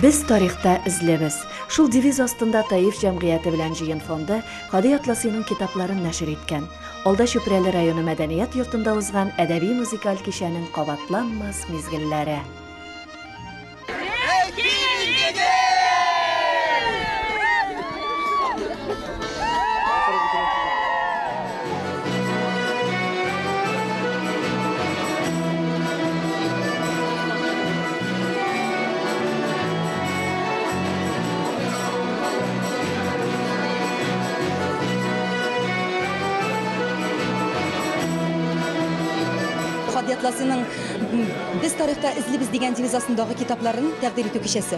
Без тарихта эзлебез. Шул девиз астында Таиф җәмгыяте белән җыен фонды Һади Атласиның китапларын нәшер иткән. Алда Чүпрәле районы мәдәният йортында узган әдәби-музыкаль кичәнең кабатланмас мизгелләре. Хадият Ласиның Без тарихта эзлибез дигән девиз астындагы китапларын тәкъдим итү кичәсе.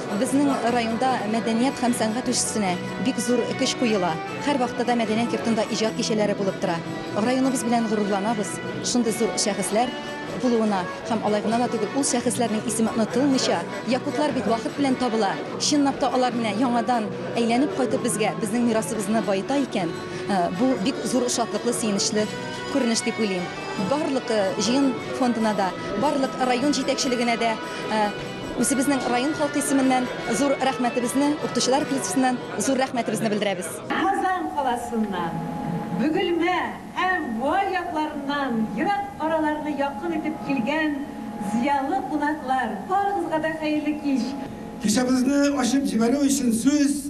Безнең районда мәдәният һәм сәнгать үсешенә бик зур көч куела. Һәрвакытта да мәдәният йортында иҗат кичәләре булып тора. Районыбыз белән горурланабыз, шундый зур шәхесләр булуына. Һәм алай гына да түгел, ул шәхесләрнең исеме онытылмыйча. Якутлар бит вакыт белән табыла. Чынлап та алар менә яңадан әйләнеп кайтып безгә, безнең мирасыбызны баета икән, бу бик зур шатлыклы, сөенечле күренеш дип уйлыйм. Барлык җыен фондына да, барлык район җитәкчелегенә дә. Үзебезнең район халкы исеменнән зур рәхмәтебезне, укытучылар коллективыннан зур рәхмәтебезне белдерәбез. Казан каласыннан, Бөгелмә һәм Буа якларыннан ерак араларны якын итеп килгән зыялы кунаклар, барыгызга да хәерле кич! Кичәбезне ачып җибәрү өчен сүз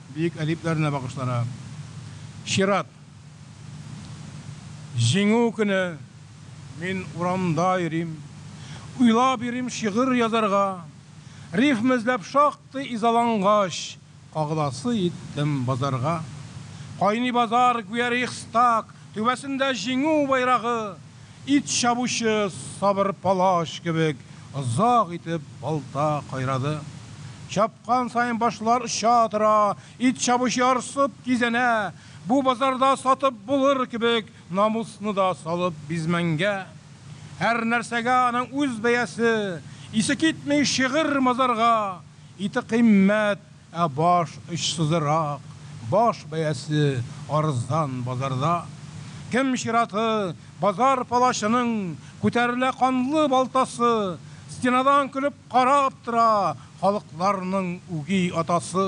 Бөек әдипләренә багышлана. Чират. Җиңү көне. Мин урамда йөрим. Уйлап йөрим шигырь язарга. Рифма эзләп шактый изалангач, кагыласы иттем базарга. Кайный базар, гүя рейхстаг, түбәсендә Җиңү байрагы. Ит чабучы сабыр палач кебек озак итеп балта кайрады. Чапкан саен башлар оча тора, ит чабучы ярсып кизәнә. Бу базарда сатып булыр кебек намусны да салып бизмәнгә. Һәрнәрсәгә аның үз бәясе, исе китми шигырь-мазарга, ите кыйммәт, Ә баш очсызрак, баш бәясе арзан базарда. Кем чираты, базар палачының күтәрелә канлы балтасы, стенадан көлеп карап тора халыкларның үги атасы.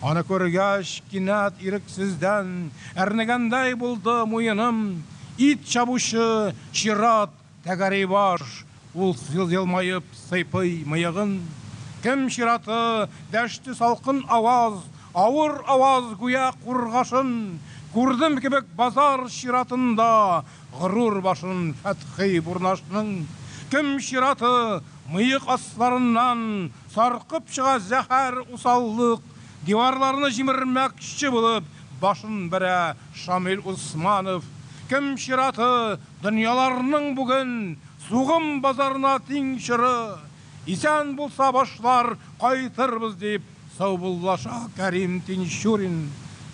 Аны күргәч, кинәт ирексездән әрнегәндәй булды муеным, ит чабучы чират Тәгәри баш, ул елмаеп сыйпый мыегын. Кем чираты? дәште салкын аваз, авыр аваз гүя кургашын. Күрдем кебек базар чиратында горур башын Фәтхи Бурнашның. Кем чираты? Мыек асларыннан саркып чыга зәһәр усаллык, диварларны җимермәкче булып башын бәрә Шамил Усманов. Кем чираты? Дөньяларның бүген сугым базарына тиң чоры, исән булса башлар, кайтырбыз, дип саубуллаша Кәрим Тинчурин.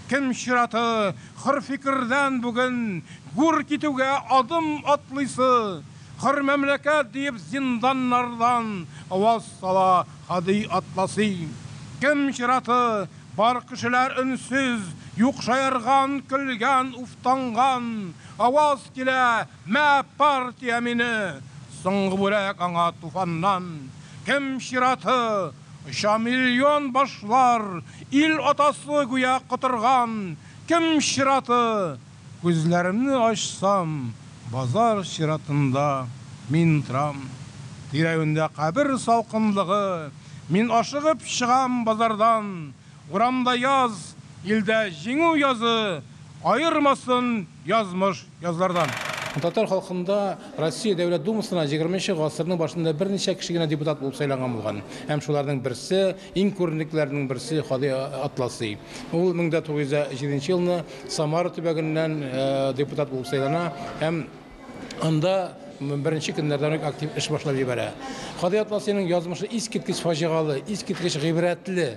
Кем чираты, хөр фикердән бүген гүр китүгә адым атлыйсы, хөр мәмләкәт диеп зинданнардан аваз сала һади атласи. Кем чираты, бар кешеләр өнсез, юк шаярган, көлгән, уфтанган, Аваз килә, Мә, партия мине! Соңгы бүрек аңа туфаннан. Кем чираты? Оча миллион башлар, Ил атасы гүя котырган. Кем чираты? Күзләремне ачсам, Базар чиратында мин торам. Тирәвендә кабер салкынлыгы, Мин ашыгып чыгам базардан. Урамда яз, илдә җиңү язы, Аермасын язмыш язлардан. Татар халкында Россия Дәүләт Думасына егерме нче гасырның башында берничә кеше генә депутат булып сайланган булган һәм шуларның берсе, иң күренеклеләренең берсе Һади Атласи. Ул мең дә тугыз йөз дә җиденче елны Самара төбәгеннән депутат булып сайлана һәм. Анда беренче көннәрдән үк актив эш башлап җибәрә. Кади Атласиның язмышы искиткеч фаҗигалы, искиткеч гыйбрәтле.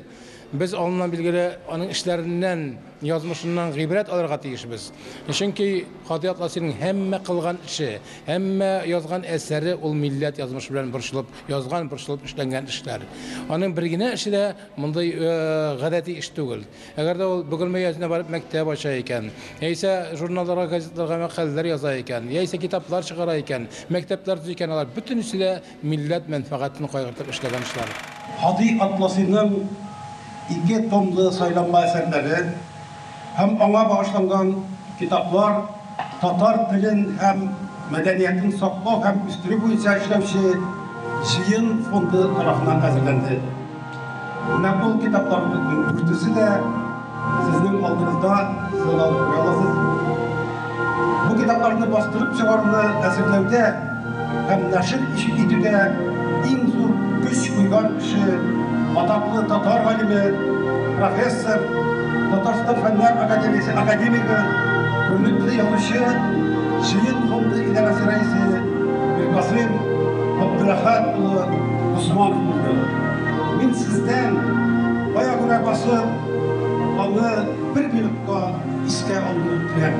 Без алыннан билгеле аның эшләреннән, язмышыннан гыйбрәт алырга тиешбез. Чөнки Кади Атласиның һәммә кылган эше, һәммә язган әсәре ул милләт язмышы белән борчылып язган, борчылып эшләнгән эшләр. Аның бер генә эше дә мондый гадәти эш түгел. Әгәр дә ул Бөгелмә өязенә барып мәктәп ача икән, яисә журналларга, газетларга мәкаләләр яза икән, яисә китаплар чыгара икән, мәктәпләр төзи икән, алар бөтенесе дә милләт мәнфәгатен кайгыртып эшләгән эшләр. Һади Атласиның ике томлы сайланма әсәрләре һәм аңа багышланган китаплар, Татар телен һәм мәдәниятен саклау һәм үстерү буенча эшләүче Җыен фонды тарафыннан әзерләнде. Менә ул китапларыбызның дүртесе дә сезнең алдыгызда, сез аларны күрә аласыз. Бу китапларны бастырып чыгаруны әзерләүдә Һәм нәшер итүдә иң зур көч куйган кеше, атаклы татар галиме, профессор, Татарстан Фәннәр академиясе академигы, күренекле язучы, Җыен фонды идарәсе рәисе Миркасыйм Габдуләхәт улы Усманов булды. Мин сездән кая күрә басып, аны бер минутка искә алуны теләм.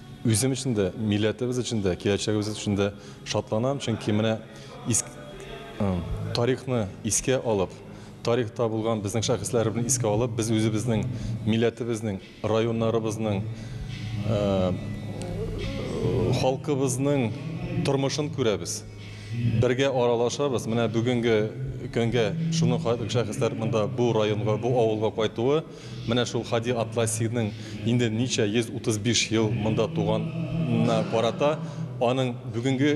Үзем өчен дә, милләтебез өчен дә, киләчәгебез өчен дә шатланам, чөнки менә тарихны искә алып, тарихта булган безнең шәхесләребезне искә алып, без үзебезнең милләтебезнең, районнарыбызның, халкыбызның тормышын күрәбез, бергә аралашабыз. Менә бүгенге көнгә шуның шәхесләр монда бу районга, бу авылга кайтуы, Менә шул Һади Атласиның инде ничә 135 ел монда туганына карата аның бүгенге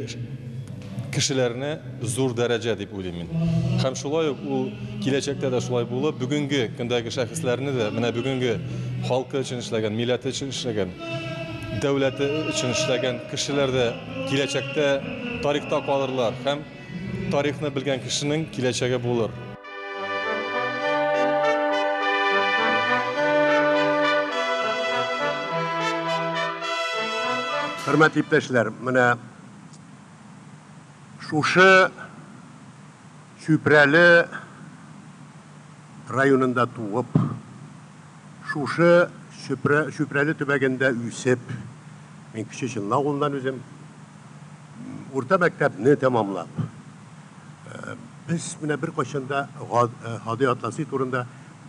кешеләренә зур дәрәҗә дип уйлыйм мин. Һәм шулай ук ул киләчәктә дә шулай булып, бүгенге көндәге шәхесләрне дә менә бүгенге халкы өчен эшләгән, милләте өчен эшләгән, дәүләте өчен эшләгән кешеләр дә киләчәктә тарихта калырлар һәм Тарихны белгән кешенең киләчәге булыр. Хөрмәтле иптәшләр, менә шушы Чүпрәле районында туып, шушы Чүпрәле төбәгендә үсеп, мин Кече Чынлы авылыннан үзем, Урта мәктәпне тәмамлап, без менә беркайчан да Һади Атласи турында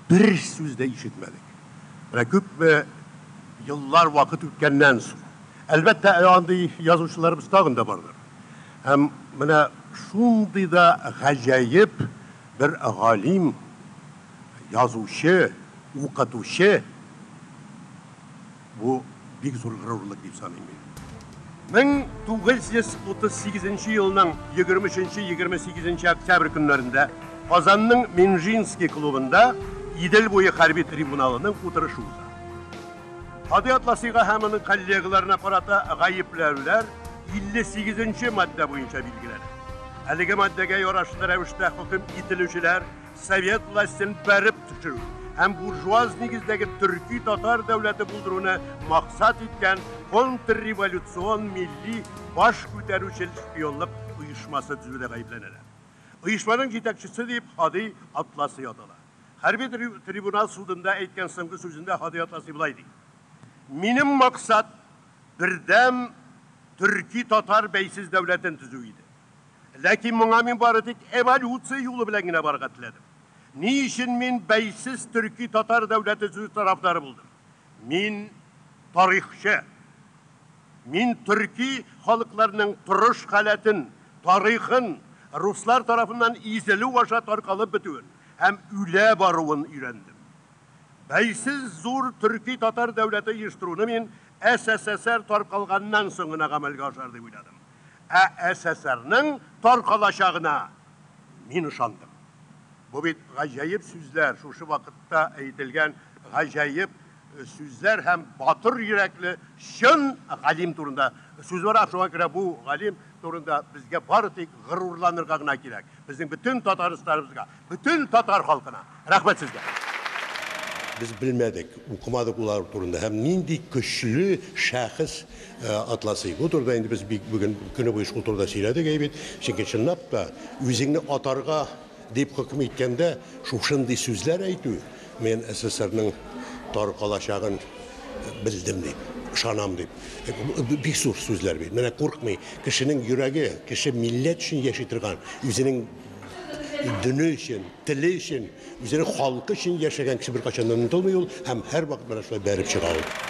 бер сүз дә ишетмәдек. Менә күпме еллар вакыт үткәннән соң. Әлбәттә, андый язучыларыбыз тагын да бардыр. Һәм менә шундый да гаҗәеп бер галим, язучы, укытучы, Бу бик зур горурлык дип саныйм мин. 1938 нче елның 23 нче, 28 нче октябрь көннәрендә Казанның Минжинский клубында Идел буе хәрби трибуналының утырышы уза. Һади Атласыйга һәм аның коллегаларына карата гаепләүләр 58 нче маддә буенча билгеләнә. Әлеге маддәгә ярашыты рәвештә хөкем ителүчеләр совет властен бәреп төшерү һәм буржуаз нигездәге төрки-татар дәүләте булдыруны максат иткән контрреволюцион милли баш күтәрүчел шпионлык оешмасы төзүдә гаепләнәләр. Оешманың җитәкчесе дип Һади Атласы ятала. Хәрби трибунал судында әйткән соңгы сүзендә Һади Атласы болай ди, Минем максат бердәм төрки-татар бәйсез дәүләтен төзү иде. Ләкин моңа мин бары тик эволюция юлы белән генә барырга теләдем. Ни өчен мин бәйсез төрки-татар дәүләте сүзе тарафдары булдым? Мин, тарихчы. Мин төрки халыкларның торыш халәтен, тарихын, руслар тарафыннан изелү аша таркалып бетүен һәм үлә баруын өйрәндем. Бәйсез зур төрки-татар дәүләте оештыруны мин СССР таркалганнан соң гына гамәлгә ашар дип уйладым. Ә ССРның таркалачагына мин ышандым. Бу бит гаҗәеп сүзләр, шушы вакытта әйтелгән гаҗәеп сүзләр һәм батыр йөрәкле чын галим турында сүз бара, шуңа күрә бу галим турында безгә бары тик горурланырга гына кирәк. Безнең бөтен татарстарыбызга, бөтен татар халкына рәхмәт сезгә! Без белмәдек, укымадык улар турында һәм нинди көчле шәхес атласый. Бу турыда инде без бик бүген көне буе шул турыда сөйләдек, әй бит. Чөнки чынлап та үзеңне атарга дип хөкем иткәндә шушындый сүзләр әйтү, Мин СССРның тар калачагын белдем дип, ышанам дип. Бик зур сүзләр бит. Менә куркмый. Кешенең йөрәге, кеше милләт өчен яши торган, үзенең дөне өчен, теле өчен, үзенең халкы өчен яшәгән кеше беркайчан да онытылмый ул һәм һәрвакыт менә шулай бәреп чыга ул.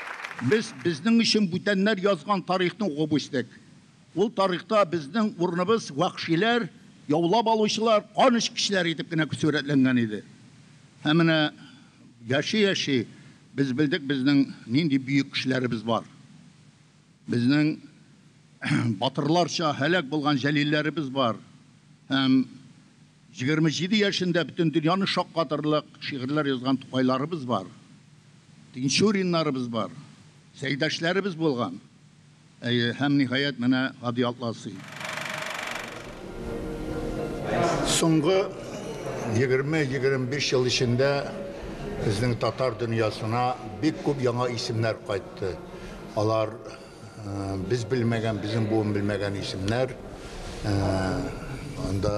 Без безнең өчен бүтәннәр язган тарихны укып үстек. Ул тарихта безнең урыныбыз вәхшиләр, яулап алучылар, кан эчкечләр итеп кенә сурәтләнгән иде. Ә менә яши-яши без белдек безнең нинди бөек кешеләребез бар. Безнең батырларча һәлак булган җәлилләребез бар. Һәм Егерме җиде яшендә бөтен дөньяны шаккатырлык шигырьләр язган Тукайларыбыз бар, Тинчуриннарыбыз бар, Сәйдәшләребез булган. Әйе, һәм, ниһаять, менә Һади Атласый. Соңгы егерме-егерме биш ел эчендә безнең татар дөньясына бик күп яңа исемнәр кайтты. Алар. Без белмәгән, безнең буын белмәгән исемнәр. Анда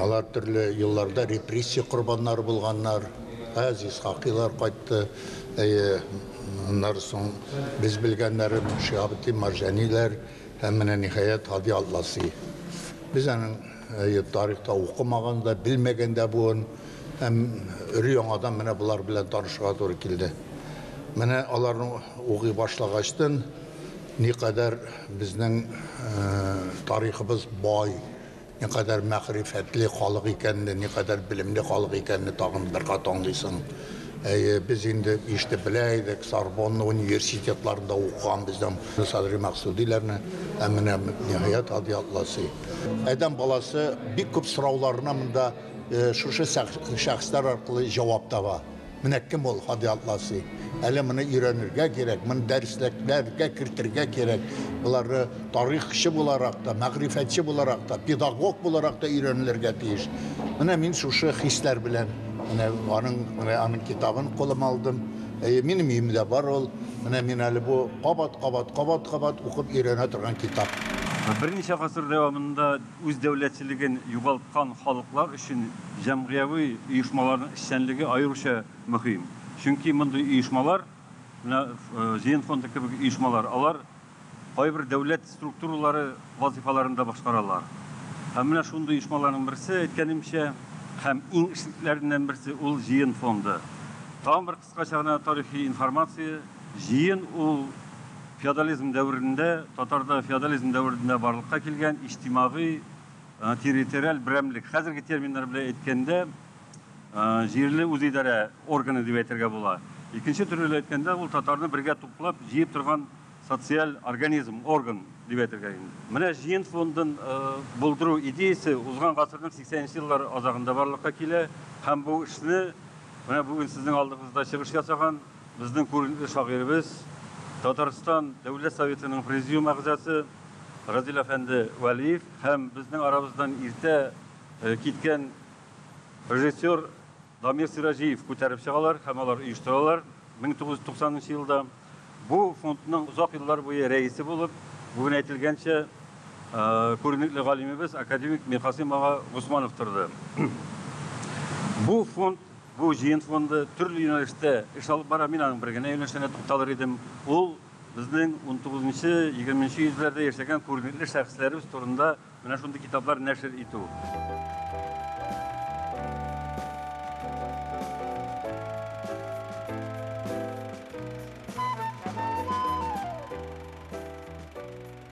алар төрле елларда репрессия корбаннары булганнар. Әз Исхакилар кайтты. Әйе, аннары соң без белгәннәрем Шиһабетдин Марҗаниләр һәм менә ниһаять Һади Атласи. Без аның Әйе, тарихта укымаган да, белмәгән дә буын һәм өр-яңадан менә болар белән танышырга туры килде. Менә аларны укый башлагачтын, никадәр безнең тарихыбыз бай, никадәр мәгърифәтле халык икәнне, никадәр белемле халык икәнне тагын бер кат аңлыйсың. Әйе, без инде ишетеп белә идек, Сорбонна университетларында укыган безнең Садри Максудиләрне, ә менә ниһаять Һади Атласи. Адәм баласы бик күп сорауларына монда э, шушы шәхесләр аркылы җавап таба. Менә кем ул Һади Атласи? Әле моны өйрәнергә кирәк, моны дәресләкләргә кертергә кирәк. Болары тарихчы буларак та, мәгърифәтче буларак та, педагог буларак та өйрәнелергә тиеш. Менә мин шушы хисләр белән менә аның менә аның китабын кулыма алдым. Әйе, минем өемдә бар ул. Менә мин әле бу кабат, кабат, кабат, кабат укып өйрәнә торган китап. Берничә гасыр дәвамында үз дәүләтчелеген югалткан халыклар өчен җәмгыяви оешмаларның эшчәнлеге аеруча мөһим. Чөнки мондый оешмалар, менә Җыен фонды кебек оешмалар, алар Кайбер дәүләт структуралары вазыйфаларын да башкаралар. Һәм менә шундый оешмаларның берсе, әйткәнемчә, һәм иң эшлеклеләреннән берсе ул Җыен фонды. Тагын бер кыскача гына тарихи информация, Җыен ул феодализм дәверендә, татарда феодализм дәверендә барлыкка килгән иҗтимагый, территориаль берәмлек. Хәзерге терминнар белән әйткәндә, җирле үзидарә органы дип әйтергә була. Икенче төрле әйткәндә, ул татарны бергә туплап, җыеп торган социаль организм, орган дип әйтергә инде. Менә җыен фондын булдыру идеясе узган гасырның 80 нче еллар азагында барлыкка килә һәм бу эшне менә бүген сезнең алдыгызда чыгыш ясаган безнең күренекле шагыйребез, Татарстан Дәүләт Советының Президиум әгъзасы Разил әфәнде Вәлиев һәм безнең арабыздан иртә киткән режиссер Дамир Сираҗиев күтәреп чыгалар һәм алар оештыралар 1990 нчы елда. Бу фондның озак еллар буе рәисе булып, бүген әйтелгәнчә, күренекле галимебез академик Миркасыйм ага Госманов торды. Бу фонд, бу җыен фонды төрле юнәлештә эш алып бара. Мин аның бер генә юнәлешенә тукталыр идем. Ул безнең 19 нчы, 20 нче йөзләрдә яшәгән күренекле шәхесләребез турында Менә шундый китаплар нәшер итү.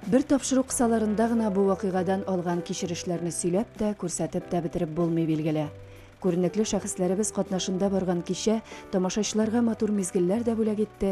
Бер тапшыру кысаларында гына бу вакыйгадан алган кичерешләрне сөйләп тә, күрсәтеп тә бетереп булмый, билгеле. Күренекле шәхесләребез катнашында барган кичә тамашачыларга матур мизгелләр дә бүләк итте,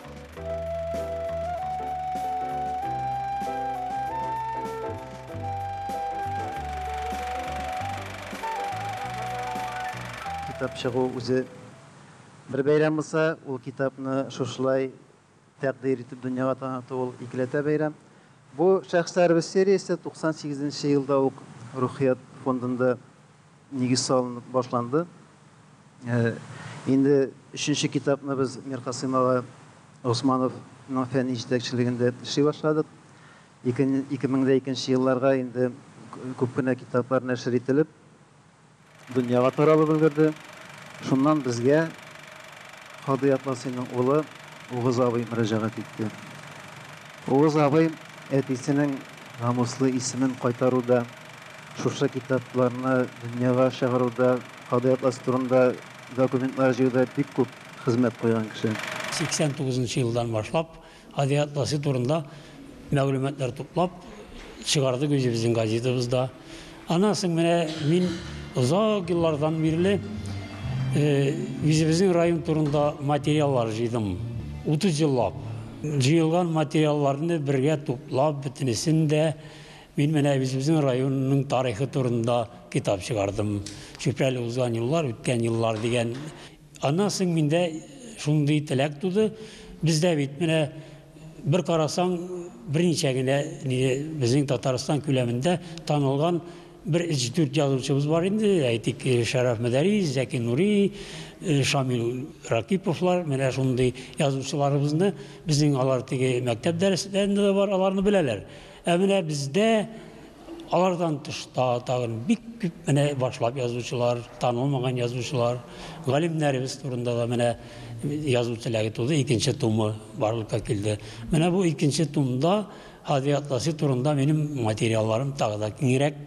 Китап чыгу үзе бер бәйрәм булса, ул китапны шушылай тәкъдир итеп дөньяга таныту ул икеләтә бәйрәм. Бу шәхесләребез сериясе 98 нче елда ук Рухият фондында Нигез салынып башланды. Инде өченче китапны без Миркасыйм ага Госмановның фәнни җитәкчелегендә эшли башладык. 2002 елларга инде күп кенә китаплар нәшер ителеп, дөньяга таралып өлгерде. Шуннан безгә Кадый Атласыйның улы Угыз абый мөрәҗәгать итте. Угыз абый әтисенең намуслы исемен кайтаруда, Шушы китапларны дөньяга чыгаруда, кадый атласы турында документлар җыюда бик күп хезмәт куйган кеше. 89 нчы елдан башлап кадый атласы турында мәгълүматлар туплап чыгардык үзебезнең газетабызда. Аннан соң менә мин озак еллардан бирле үзебезнең район турында материаллар җыйдым. 30 еллап. Җыелган материалларны бергә туплап, бөтенесен дә Мин менә әбисебезнең районының тарихы турында китап чыгардым. Чүпрәле узган юллар, үткән еллар дигән. Аннан соң миндә шундый теләк туды. Бездә бит менә бер карасаң, берничә генә безнең Татарстан күләмендә танылган бер 3-4 язучыбыз бар инде, әйтик, Шәрәф Мәдәрис, Зәки Нури, Шамил Ракиповлар, менә шундый язучыларыбызны, безнең алар теге мәктәп дәресләрендә дә бар, аларны беләләр. Ә менә бездә алардан тыш та тагын бик күп менә башлап язучылар, танылмаган язучылар, галимнәребез турында да менә язу теләге туды, икенче тумы барлыкка килде. Менә бу икенче тумда Һади Атласи турында минем материалларым тагы да киңрәк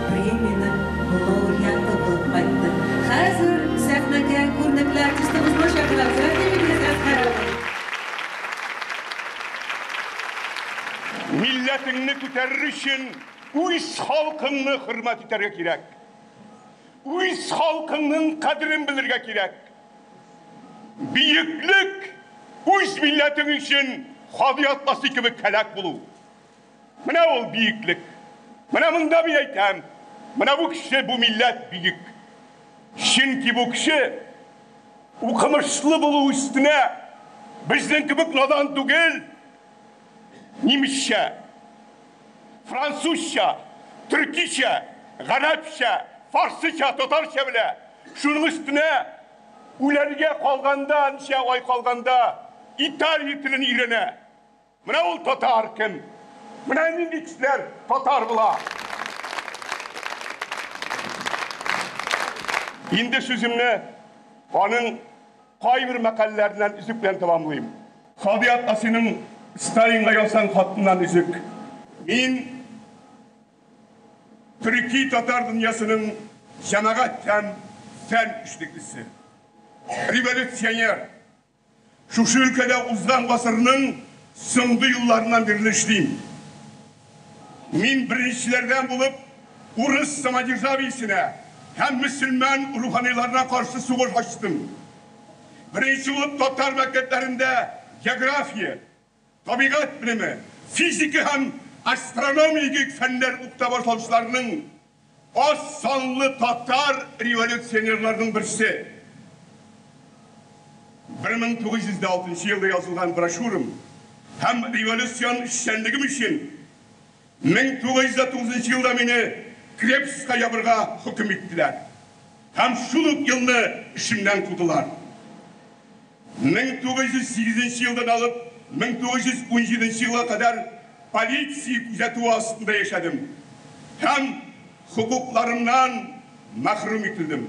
Премиянең лауреаты булып кайтты. Хәзер сәхнәгә күренекле артистыбызны чакырабыз. Рәхим итегез, Әзһәр абый! Милләтеңне күтәрер өчен үз халкыңны хөрмәт итәргә кирәк. Үз халкыңның кадерен белергә кирәк. Бөеклек, үз милләтең өчен хади атласы кебек һәлак булу. Менә ул биеклек. Менә монда мин әйтәм, менә бу кеше, бу милләт биек. Чөнки бу кеше укымышлы булу өстенә безнең кебек надан түгел, нимесчә, французча, төркичә, гарәпчә, фарсыча, татарча белә. Шуның өстенә үләргә калганда, ничә ай калганда, италия телен өйрәнә. Менә ул татар кем? Менә нинди кешеләр татар була. Инде сүземне аның кайбер мәкаләләреннән өзек белән тәмамлыйм. Сади апа синең Сталинга язган хатыннан өзек. Мин төрки татар дөньясының җәмәгать һәм фән эшлеклесе, революционер. Шушы өлкәдә узган гасырның соңгы елларыннан бирле эшлим. Мин беренчеләрдән булып урыс самодержавиесенә һәм мөселман руханиларына каршы сугыш ачтым. Беренче булып татар мәктәпләрендә география. Табигать белеме, физика һәм астрономигик фәннәр укыта башлаучыларның аз санлы татар революционерларының берсе. Бер мең тугыз йөз дә алтынчы елда язылган брошюрам һәм революцион эшчәнлегем өчен, Мең тугыз йөз дә тугызынчы елда мине Крепскка ябырга хөкем иттеләр һәм шул ук елны эшемнән кудылар. Мең тугыз йөз сигезенче елдан алып мең тугыз йөз унҗиденче елга кадәр полиция күзәтүе астында яшәдем һәм хокукларымнан мәхрүм ителдем.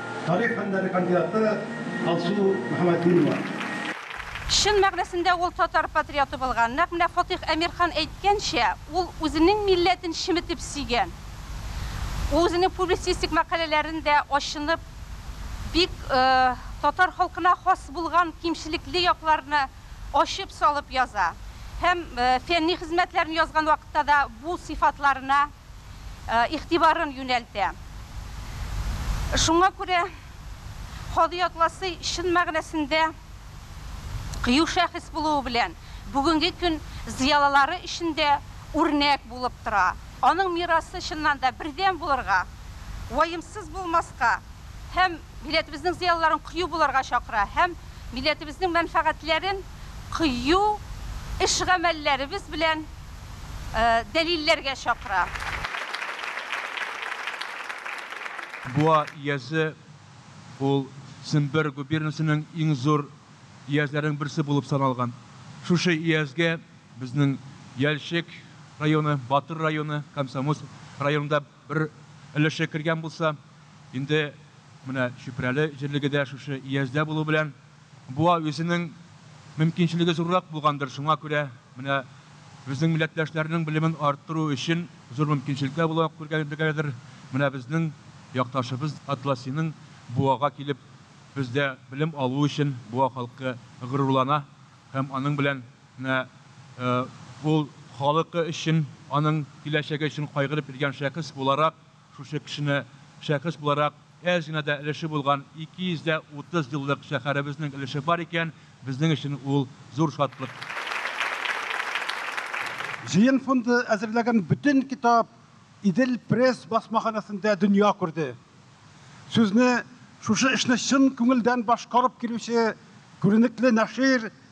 Тарих фәннәре кандидаты Алсу Мөхәммәтдинова. Чын мәгънәсендә ул татар патриоты булган. Нәкъ менә Фатыйх Әмирхан әйткәнчә, ул үзенең милләтен чеметеп сөйгән. Ул үзенең публицистик мәкаләләрендә ачынып, бик татар халкына хас булган кимчелекле якларны ачып салып яза. Һәм фәнни хезмәтләрен язган вакытта да бу сыйфатларына. игътибарын юнәлтә. Шуңа күрә Кади Атласый чын мәгънәсендә кыю шәхес булуы белән бүгенге көн зыялылары өчен дә үрнәк булып тора. Аның мирасы чыннан да бердәм булырга, ваемсыз булмаска һәм милләтебезнең зыялыларын кыю булырга чакыра һәм милләтебезнең мәнфәгатьләрен кыю эш-гамәлләребез белән дәлилләргә чакыра. Буа иязе ул Сембер губернасының иң зур иязләренең берсе булып саналган. Шушы иязгә безнең Яльчек районы, Батыр районы, Комсомольск районы да бер өлеше кергән булса, инде менә Чүпрәле җирлеге дә шушы ияздә булу белән Буа үзенең мөмкинчелеге зуррак булгандыр, шуңа күрә менә безнең милләттәшләрнең белемен арттыру өчен зур мөмкинчелекләр буларак күргәләдер. Менә безнең якташыбыз Атласиның Буага килеп, бездә белем алуы өчен Буа халкы горурлана һәм аның белән менә ул халыкы өчен, аның киләчәге өчен кайгырып йөргән шәхес буларак, Шушы кешене шәхес буларак әз генә дә өлеше булган 230 еллык шәһәребезнең өлеше бар икән, безнең өчен ул зур шатлык. Җыен фонды әзерләгән бөтен китап Идел пресс басмаханәсендә дөнья күрде. Сүзне шушы эшне чын күңелдән башкарып килүче күренекле нәшир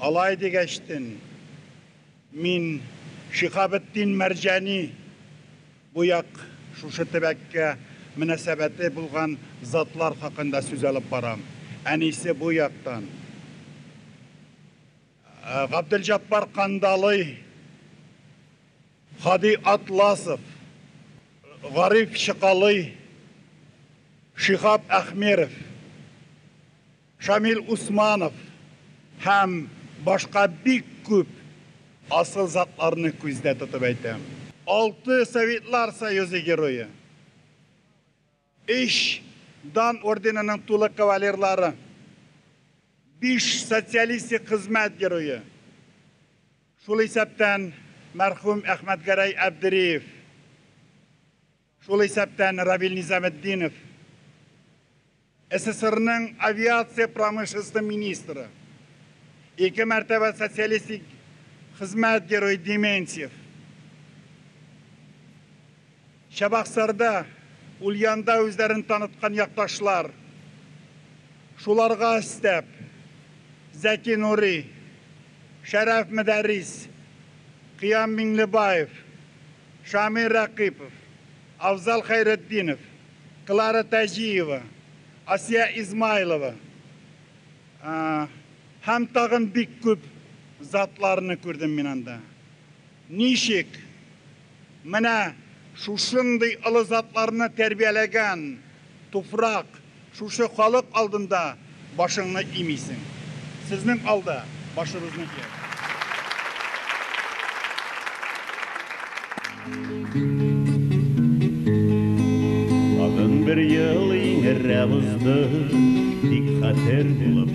Алай дигәч тен, мин Шиһабетдин Мәрҗани бу як шушы төбәккә мөнәсәбәте булган затлар хакында сүз алып барам. Әнисе бу яктан. Габделҗаппар Кандалый, Һади Атласов, Гариф Чыкалый, Шиһаб Әхмеров, Шамил Усманов һәм башка бик күп асыл затларны күздә тотып әйтәм. Алты Советлар Союзы Герое, өч Дан орденының тулы кавалерлары, биш Социалистик Хезмәт Герое, шул исәптән мәрхүм Әхмәтгәрәй Әбдериев, Шул исәптән Равил Низаметдинов, СССРның авиация промышленносте министры, ике мәртәбә Социалистик Хезмәт Герое Дементьев, Чабаксарда, Ульянда үзләрен таныткан якташлар, шуларга өстәп, Зәки Нури, Шәрәф Мөдәррис, Кыям Миңлебаев, Шамил Рәкыйпов, Авзал Хәйретдинов, Клара Таҗиева, Асия Измайлова һәм тагын бик күп затларны күрдем мин анда. Ничек менә шушындый олы затларны тәрбияләгән туфрак, Шушы халык алдында башыңны имисең. Сезнең алда, башыбызныкы. Тагын бер ел иңеррәк узды, тик хәтер булып.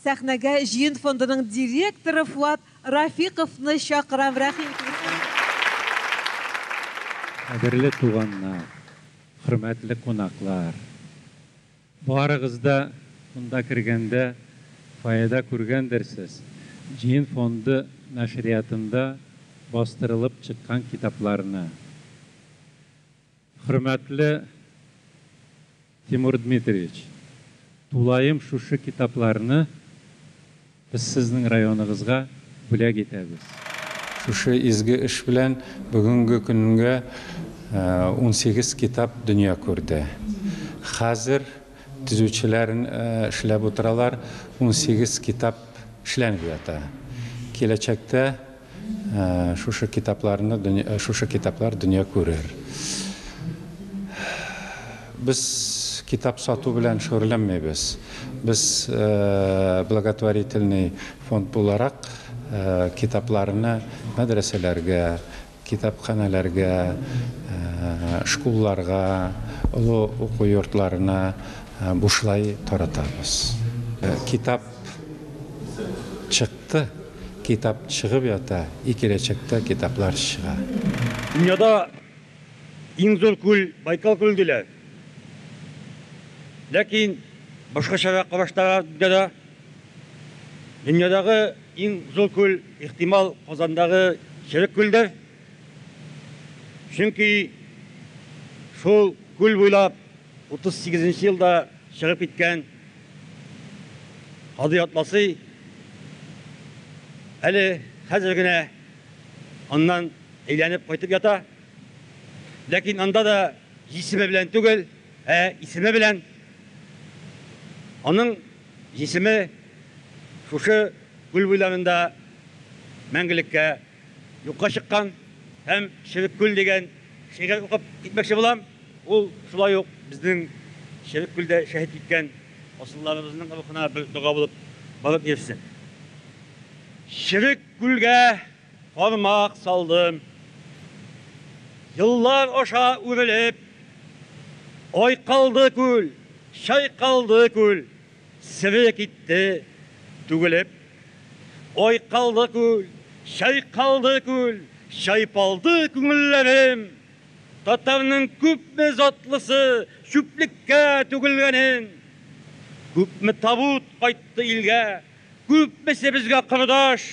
Сәхнәгә җыен фондының директоры Фуат Рафиковны чакырам, рәхим итегез. Кадерле туганнар, хөрмәтле кунаклар! Барыгыз да монда кергәндә фаэда күргәндерсез, җыен фонды нәшриятында бастырылып чыккан китапларны. Хөрмәтле Тимур Дмитриевич, тулаем шушы китапларны без сезнең районыгызга бүләк итәбез. Шушы изге эш белән бүгенге көнгә унсигез китап дөнья күрде. Хәзер төзүчеләр эшләп утыралар, унсигез китап эшләнеп ята. Киләчәктә. Шушы китапларны дөнья, шушы китаплар дөнья күрер. Без китап сату белән шөгыльләнмибез. Без благотворительный фонд буларак китапларны мәдрәсәләргә, китапханәләргә, шкулларга, олы уку йортларына бушлай таратабыз. Китап чыкты. Китап чыгып ята и киләчәктә китаплар чыга. Дөньяда иң зур күл Байкал күле диләр. Ләкин башкачарак караштылар дөньяда. Дөньядагы иң зур күл, ихтимал, Казандагы Черек күлдер. Чөнки шул күл буйлап. 38 нче елда чыгып киткән Кадый Атласый әле хәзер генә аннан әйләнеп кайтып ята. Ләкин анда да җисеме белән түгел, ә исеме белән. Аның җисеме шушы күл буйларында мәңгелеккә юкка чыккан һәм Черек күл дигән шигырь укып китмәкче булам. Ул шулай ук безнең Черек күлдә шәһит киткән асылларыбызның рухына бер дога булып барып ирешсен. Черек күлгә кармак салдым. Еллар аша үрелеп, айкалды күл, чайкалды күл. Севе китте, түгелеп. Айкалды күл, чайкалды күл, Чайпалды күңелләрем. Татарның күпме затлысы Чүплеккә түгелгәнен. Күпме табут кайтты илгә, Күпмесе безгә кордаш.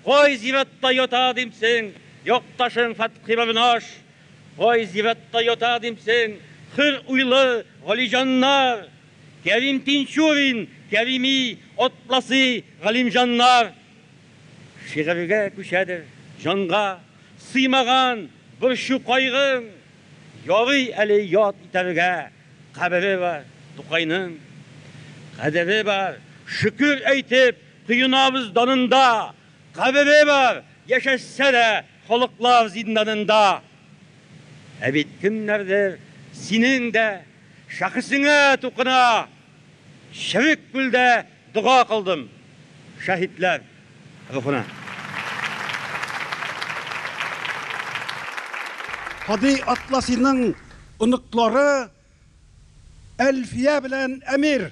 Кай зиратта ята димсең Якташың Фәтхи Барнаш? Кай зиратта ята димсең Хөр уйлы Галиҗаннар? Кәрим Тинчурин, Кәрими, Атласи, Галимҗаннар шигырьгә күчәдер, җанга сыймаган борчу-кайгың, ярый әле яд итәргә кабере бар Тукайның, кадере бар, шөкер әйтеп коенабыз данында, кабере бар, яшәсә дә халыклар зинданында. Ә бит кемнәрдер синең дә. Шәхесеңә тукына черек күлдә дога кылдым шәһитләр рухына. Һади Атласиның оныклары Әлфия белән Әмир.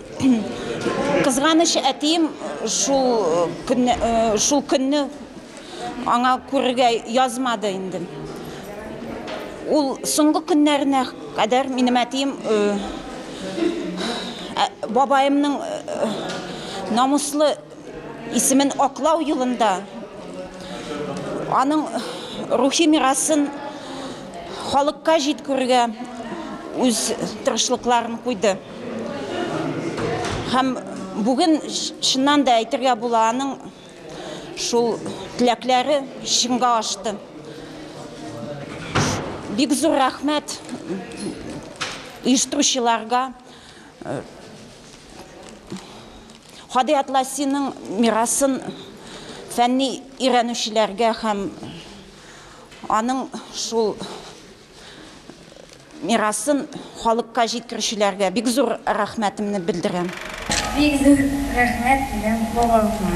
Кызганыч, әтием шул көнне, шул көнне аңа күрергә язмады инде. Ул соңгы көннәренә кадәр минем әтием бабаемның намуслы Исемен аклау юлында, аның рухи мирасын халыкка җиткерүгә үз тырышлыкларын куйды. Һәм бүген чыннан да әйтергә була, аның шул теләкләре чынга ашты. Бик зур рәхмәт оештыручыларга. Һади Атласиның мирасын фәнни өйрәнүчеләргә һәм аның шул мирасын халыкка җиткерүчеләргә бик зур рәхмәтемне белдерәм. Бик зур рәхмәт минем бабама.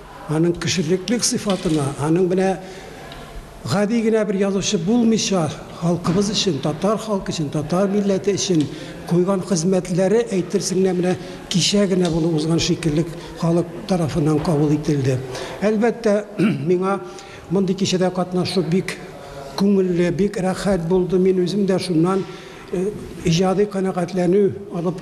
Аның кешелеклек сыйфатына, аның менә гади генә бер язучы булмыйча, халкыбыз өчен, татар халкы өчен, татар милләте өчен куйган хезмәтләре әйтерсең генә менә кичә генә булып узган шикелле халык тарафыннан кабул ителде. Әлбәттә, миңа мондый кичәдә катнашу бик күңелле, бик рәхәт булды, мин үзем дә шуннан иҗади канәгатьләнү алып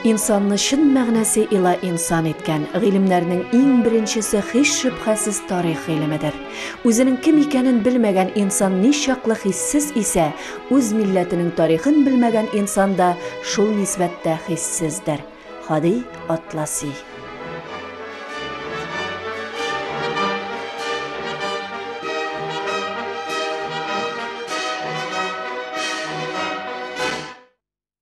Инсанны чын мәгънәсе ила инсан иткән гыйлемнәрнең иң беренчесе һич шөбһәсез тарих гыйлемедер. Үзенең кем икәнен белмәгән инсан ничаклы хиссез исә, үз милләтенең тарихын белмәгән инсан да шул нисбәттә хиссездер. Һади Атласи.